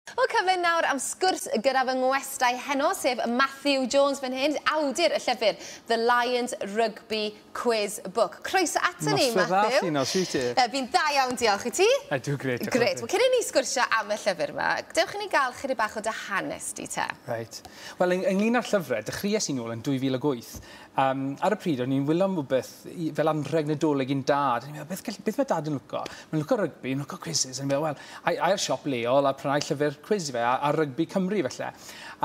Wel, cyfle nawr am sgwrs gyda fy ngwestai heno, sef Matthew Jones fan hyn, awdur y llyfr The Lions Rugby Quiz Book. Croeso aton ni, Matthew. Noswaith dda, Llino, sut ti? Yy, fi'n dda iawn, diolch. I ti? Ydw, grêt, diolch. Grêt. Wel, cyn i ni sgwrsio am y llyfr 'ma, dewch i ni gael chydig bach o dy hanes di te. Reit. Wel, yng- ynglyn â'r llyfr, dechreues i nôl yn 2008, Um, ar y pryd, o'n i'n wylo am rhywbeth fel anrheg nadolig i'n dad. O'n i'n meddwl, beth, beth mae dad yn lwco? Mae'n lwco rygbi, mae'n lwco quizzes. O'n i'n meddwl, wel, ai, ai'r siop leol a prynau llyfr quiz i fe, a, a rygbi Cymru felly.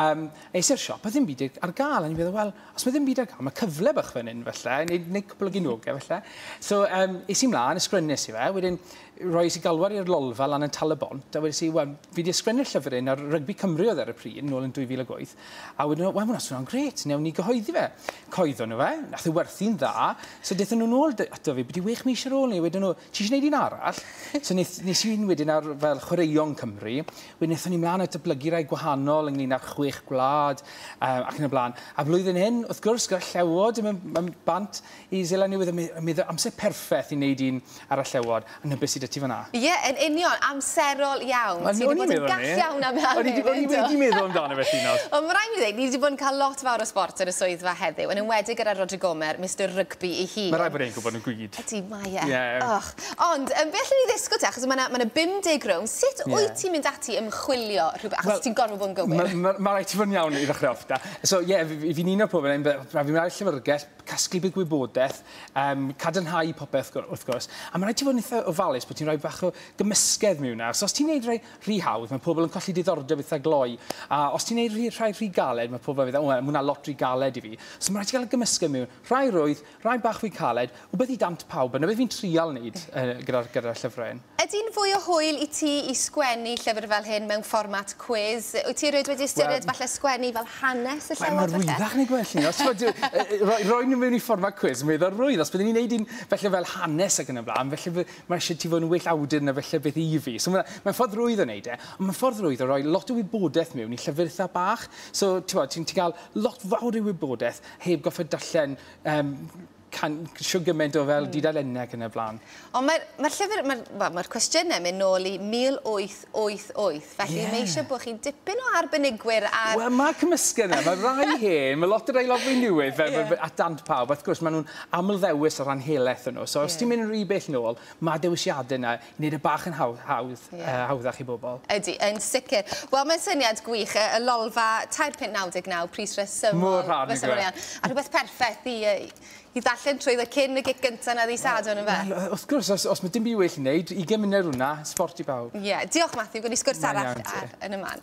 Um, eis i'r siop, a ddim byd ar gael. O'n i'n meddwl, wel, os mae ddim byd ar gael, mae cyfle bach fan hyn felly, neu, neu cwbl o ginogau felly. So, um, eis i mlaen, ysgrifennes i fe, wedyn roi i galwar i'r lolfa lan yn tal y bont, a wedi si, wel, fi wedi ysgrifennu'r llyfr un ar rygbi Cymru oedd ar y pryd, nôl yn 2008, A wedyn nhw, wel, hwnna'n swnio'n gret, newn ni gyhoeddi fe. Coeddon nhw fe, nath e werthu'n dda, so dethon nhw'n ôl ato fi, byti wech mis ar ôl ni, wedyn nhw, ti eisiau gwneud un arall? so nes, nes i'n wedyn ar fel chwaraeon Cymru, wedyn nethon ni mlaen a dyblygu rai gwahanol ynglyn â'r chwech gwlad, um, ac yn y blaen. A flwyddyn hyn, wrth gwrs, gyda llewod yn mynd bant, Is Ela Newydd a mi fydd amser perffeth i neud un ar y llewod, a na be sy 'da ti fan'na. Ie, yn union, amserol iawn. Ti 'di bod yn gall iawn am lan hyn, yndo? O'n i wedi meddwl amdano fe, Llinos. Wel, ma' raid mi ddeud, ni 'di bod yn cael lot fawr o sbort yn y swyddfa heddiw, yn enwedig gyda Rhodri Gomer, Mister Rygbi 'i hun. Ma' raid bod e'n gwybod yn gwid. Ydi, mae e. Ie. Och. Ond, yym, be' allen ni ddisgwl te, achos ma' 'na ma' 'na 50 rownd, sut wyt ti'n mynd ati i ymchwilio rhywbeth, achos Wel, ti'n gorfod bod yn gywir. ma' ma' ma' raid ti fod yn iawn i ddechrau off 'da. So, ie, fi fi fi'n uno pobl, fi'n meddwl, rhaid fi mynd ar y llyfrgell, casglu byd gwybodaeth, um, cadarnhau popeth wrth gwrs, a mae'n rhaid ti fod yn eitha ofalus bod ti'n rhoi bach o gymysgedd mewn ar. So os ti'n neud rhai rhy hawdd, mae pobl yn colli diddordeb eitha gloi, a os ti'n neud rhy, rhai rhy galed, mae pobl yn meddwl, o, mae hwnna lot rhy galed i fi. So mae'n rhaid ti gael y gymysgedd mewn, rhai rwydd, rhai bach fwy caled, wbeth i dant pawb, a na beth fi'n trial wneud uh, gyda'r gyda llyfrau hyn. Ydi'n fwy o hwyl i ti i sgwennu llyfr fel hyn mewn fformat cwis? Wyt ti erioed wedi ystyried falle sgwennu fel hanes y llewod falle? Mae'n rwyddach neu gwell ni, os ti'n gwybod, roi nhw mewn i fformat cwis, mae dda'r rwydd, os byddwn ni'n neud un felly fel hanes ac yn y blaen, felly mae eisiau ti fod yn well awdur na felly beth i fi. So mae'n mae ffordd rwydd o neud e, ond mae'n ffordd rwydd o roi lot o wybodaeth mewn i llyfr eitha bach. So ti'n ti'n ti cael lot fawr o wybodaeth heb gorfod darllen um, can- shw gyment o fel dudalenne ac yn y blaen. Ond mae'r ma llyfr, mae'r ma, ma cwestiynau yn mynd nôl i 1888, felly yeah. mae eisiau bod chi'n dipyn o arbenigwyr ar... Wel, mae cymysgedd yna, mae rai hen, mae lot o rai lot fwy newydd, fel yeah. at dant pawb, wrth gwrs, maen nhw'n amlddewis o ran helaeth nhw. So, os yeah. ti'n mynd yn rhy bell nôl, mae dewisiadau yna Wneud e bach yn hawdd, hawdd, yy hawddach i bobl. Ydy, yn sicr. Wel, mae'n syniad gwych, y y lolfa tair punt naw deg naw, pris resymol. Mor rhad, nag yw e? A rhywbeth perffaith i yy i ddarllen trwyddo cyn y gic gynta 'na ddydd Sadwrn, ynfe? Wel, yy wrth gwrs, os os ma' dim byd well i neud, ugen munud ar hwnna, sbort i bawb. Ie. Diolch, Matthew, gewn ni sgwrs arall... Mae'n iawn te. ...ar Yn y Man.